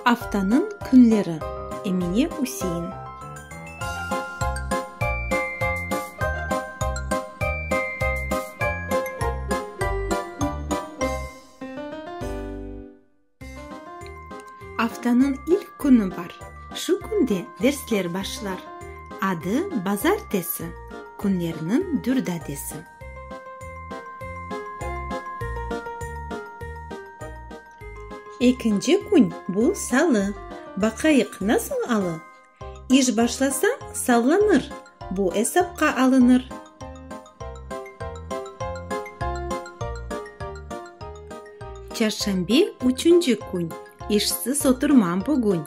Aftanıñ künleri. Emine Üsein. Aftanıñ ilk künü bar. Şu künde dersler başlar. Adı, bazartesi, künlerniñ dürdadesi. Ekinci kün, bu, salı. Baqayıq, nasıl alı? İş başlasa, sallanır, bu esapqa alınır. Çarşanbe, üçünci kün, işsiz oturmam bugün.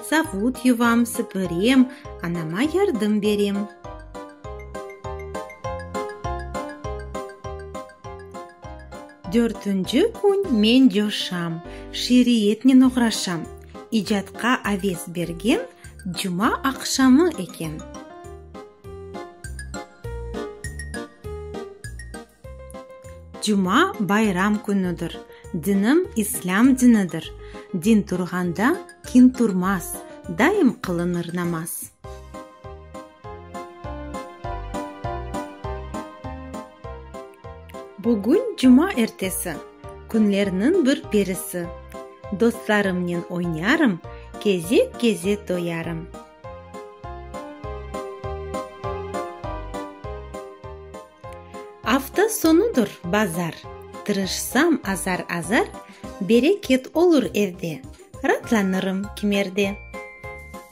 Savut yuvam, süpürem, anama yardım berem. Dörtünci kün men coşam, şiiriyetnen oğraşam, icatqa aves bergem cuma aqşamı eken. Cuma bayram künüdir, dinim islâm dinidir, din turğanda kin turmaz, daim qılınır namaz. Bugün cuma ertesi, künlerniñ bir perisi, Dostlarımnen oynarım, kezek-kezek doyarım. Afta sonudır, bazar, tırışsam azar-azar, Bereket olur evde, ratlanırım kimerde.